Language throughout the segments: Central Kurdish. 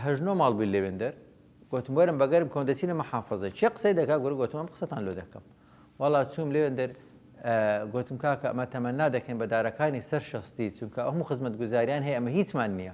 هەشت نۆ ماڵ بووین لەوێندەر، گۆتم وەرن بە گەرم کەون دەچینە مەحافەزە، کێ قسەی دەکا گورە گۆتم ئەم قسەتان لۆ دەکەم، وەڵا چووم لەوێندەر گۆتم کاکە ئەمە تەمەنا دەکەین بە دارەکانی سەر شەستی چونکە هەموو خزمەتگوزاریان هەیە ئەمە هیچمان نییە.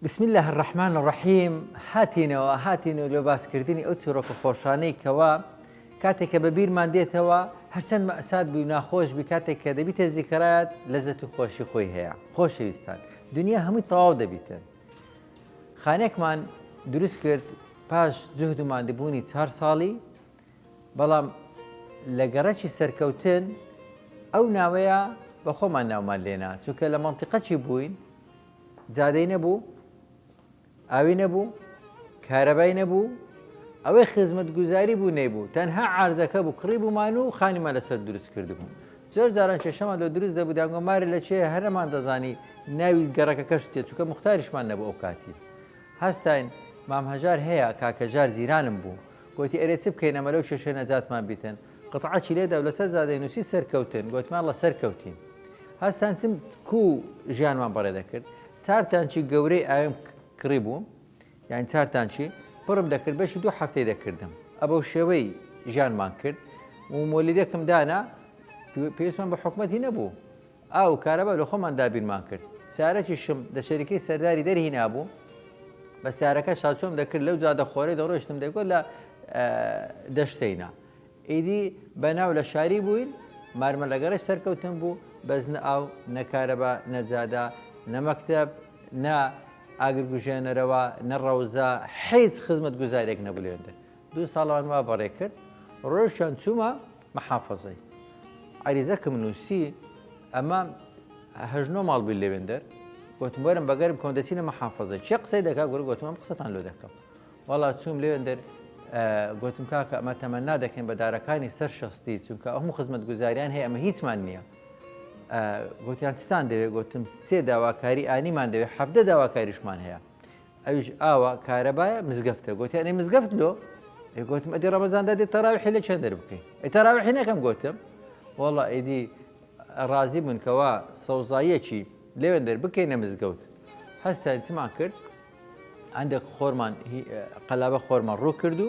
بسم اللە الرحمن الرحیم هاتینەوە هاتین و لۆ باسکردنی ئەو چیرۆکە خۆشانەی کەوا کاتێک کە بە بیرمان دێتەوە هەرچەند مەسات بووی ناخۆش بی کاتێک کە دەبیتە زیکرات لەزەت و خۆشی خۆی هەیە خۆشەویستان دنیا هەمووی تەواو دەبیتن خانێکمان دروست کرد پاش جهد و مادەبوونی چهار ساڵی بەڵام لە گەڕەکی سەرکەوتن ئەو ناوەیە بە خۆمان ناومان لێنا چونکە لە مەنتیقەکی بووین جادەی نەبوو ئاوی نەبوو کارەبای نەبوو ئەوەی خزمەت گوزاری بوو نەیبوو تەنها عرزەکە بوو کڕی بوومان و خانیمان لەسەر دروست کردبوو زۆر جاران کێشەمان لە دروست دەبوو داگۆمارە لە چێ هەرەمان دەزانی ناوی گەڕەکە کەش تێ چووکە مختاریشمان نەبوو ئەو کاتی هەستین مام هەژار هەیە کاکەژار زیرانم بوو گوتی ئەرێ چ بکەینەمە لەو کێشە نەجاتمان بیتن قەتعەکی لێدا و لەسەر زادەی نووسی سەرکەوتن، گۆتمان ڵە سەر کەوتین. هەستان چم کو ژیانمان بەڕێ دەکرد. چار تانکی گەورەی ئاویم کڕی بوو، یانی چار تانکی، پڕم دەکرد، بەشی دوو هەفتەی دەکردم. ئەبەو شێوەی ژیانمان کرد و مۆلیدەکم دانا، پێویستمان بە حکومەتی نەبوو. ئاو و کارەبا لە خۆمان دابینمان کرد. سارەکیشم لە شەریکەی سەرداری دەرهینابووم، بە سارەکە شاچۆم دەکرد، لەو جادە خۆرەی دەڕۆیشتم دەیگۆت لە دەشتەینە. ئیدی بە ناو لە شاری بووین، مارمە لە گەڕەی سەرکەوتن بوو، بەس نە ئاو، نە کارەبا، نە جادە، نە مەکتەب، نە ئاگرکوژێنەرەوە، نە ڕەوزە، هیچ خزمەتگوزارییەک نەبوو لەوێندە. دوو ساڵەمان وا بەڕێ کرد. ڕۆیشتن چوومە. محافەزەی عەریزەکم نووسی ئەمە هەژ نۆ ماڵ بووی لەوێندەر گوتم وەرم بەگەرم کۆم دەچینە محافەزە چێ قسەی دەکا گوەر گوتم ئەم قسەتان لۆ دەکەم وەڵا چوم لەوێندەر گوتم کاکە ئەمە تەمەنا دەکەین بە دارەکانی سەر شەستی چونکە ئەو هەموو خزمەت گوزاریان هەیە ئەمە هیچمان نییە گوتیان چستان دەوێت گوتم سێ داواکاری ئانیمان دەوێت حەفدە داواکاریشمان هەیە ئەویش ئاوە کارەبایە مزگەفتە گۆتی ئەنی مزگەفت لۆ ئەی گۆتم ئەدی ڕەمەزاندا دێت تەراویحی لە چەند دەر بکەین ئەی تەراویحی نەکەم گۆتم وەڵا ئیدی ڕازی بوون کەوا سەوزاییەکی لەوێن دەر بکەینە مزگەوت هەستان چمان کرد هەندێک خۆرمان قەلابە خۆرمان ڕوو کرد و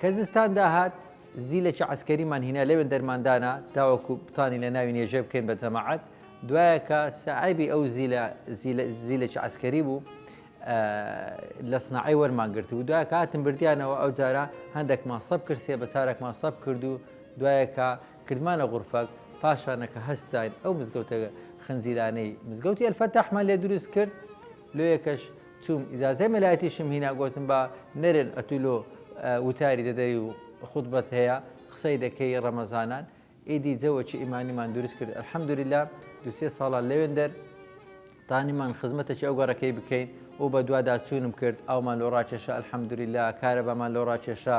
کە زستان داهات زیلەکی عەسکەریمان هینا لەوێن دەرمان دانا تاوەکو بتوانین لە ناوی نێژێ بکەین بە جەماعەت دوایە کە ساعێبی ئەو زیلە زیلەکی عەسکەری بوو لە سناعی وەرمان گرت و دوای کاتم بردیانەوە ئەو جارە هەندێکمان سەب کرد سێ بە چارێکمان سەب کرد و دوایەکە کردمانە غورفەک پاشانەکە هەستاین ئەو مزگەوتە خنجیلانەی مزگەوتی ئەلفەتەحمان لێ دروست کرد لۆیەکەش چوم ئیجازەی مەلایەتیشم هینا گۆتم با نەرێن ئەتو لۆ وتاری دەدەی و خوتبەت هەیە قسەی دەکەی ڕەمەزانان ئیدی جەوەکی ئیمانیمان دورست کرد الحمدللە دو سێ ساڵە لەوێندەر تانیمان خزمەتەکی ئەو گەڕەکەی بکەین و بەدوادا چونم کرد ئاومان لۆ ڕاکێشا الحمدللە کارەبامان لۆ ڕاکێشا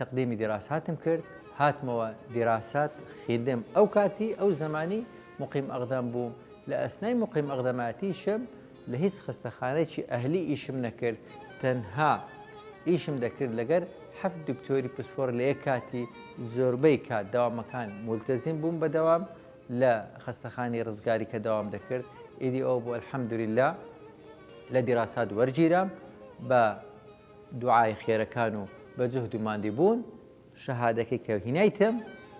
تقدیمی دیراساتم کرد هاتمەوە دیراسات خیدم ئەو کاتی ئەو زمانی مقیم ئەقدەم بووم لە ئەسنای مقیم ئەقدەماتیشم لە هیچ خستەخانەیەکی ئەهلی ئیشم نەکرد تەنها ئیشم دەکرد لەگەر حەفت دکتۆری پسپۆر لە یەک کاتی زۆربەی کات دەوامەکان مولتەزیم بووم بە دەوام لە خستەخانی ڕزگاری کە دەوام دەکرد ئیدی ئەو بۆ الحمدللە لە دیراسات وەرگیرام بە دوعای خێرەکان و بە جوهد و ماندی بوون شەهادەکەی کە هینایتم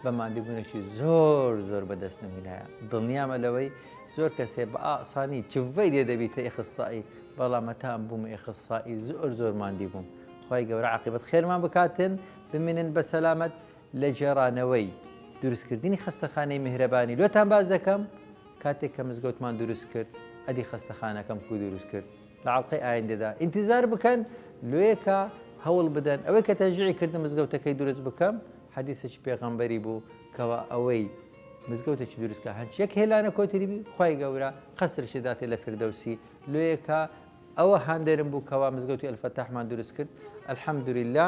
بە ماندی بوونێکی زۆر زۆر بەدەست نەمینایە دڵنیامە لەوەی زۆر کەسێ بە ئاسانی چڤەی لێ دەبیتە ئێخسسایی بەڵام مەتام بووم ئێخسسایی زۆر زۆر ماندی بووم خی گەورە عقیبەت خێرمان بکاتن بمێنن بە سەلامەت لە جێرانەوەی دروستکردنی خستەخانەی میهرەبانی لۆتان باز دەکەم کاتێک کە مزگەوتمان دروست کرد ئەدی خستەخانەکەم کو دروست کرد لە ئەڵقەی ئایندەدا ئینتیزار بکەن لۆیەکە هەوڵ بدەن ئەوەی کە تەشجیعی کردن مزگەوتەکەی دروست بکەم حەدیسێکی پێغەمبەری بوو کەوا ئەوەی مزگەوتێکی دروست کە هەرچی یەک هێلانە کۆتری بی خوای گەورە قەسرشی داتێ لە فردەوسی لۆیەکە ئەوە هاندەرم بوو کەوا مزگەوتی ئەلفەتاحمان دروست کرد الحەمدللە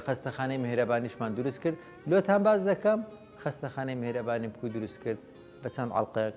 خەستەخانەی مهرەبانیشمان دروست کرد لۆتان باز دەکەم خەستەخانەی مهرەبانی بکو دروست کرد بە چەند ئەڵقەیەک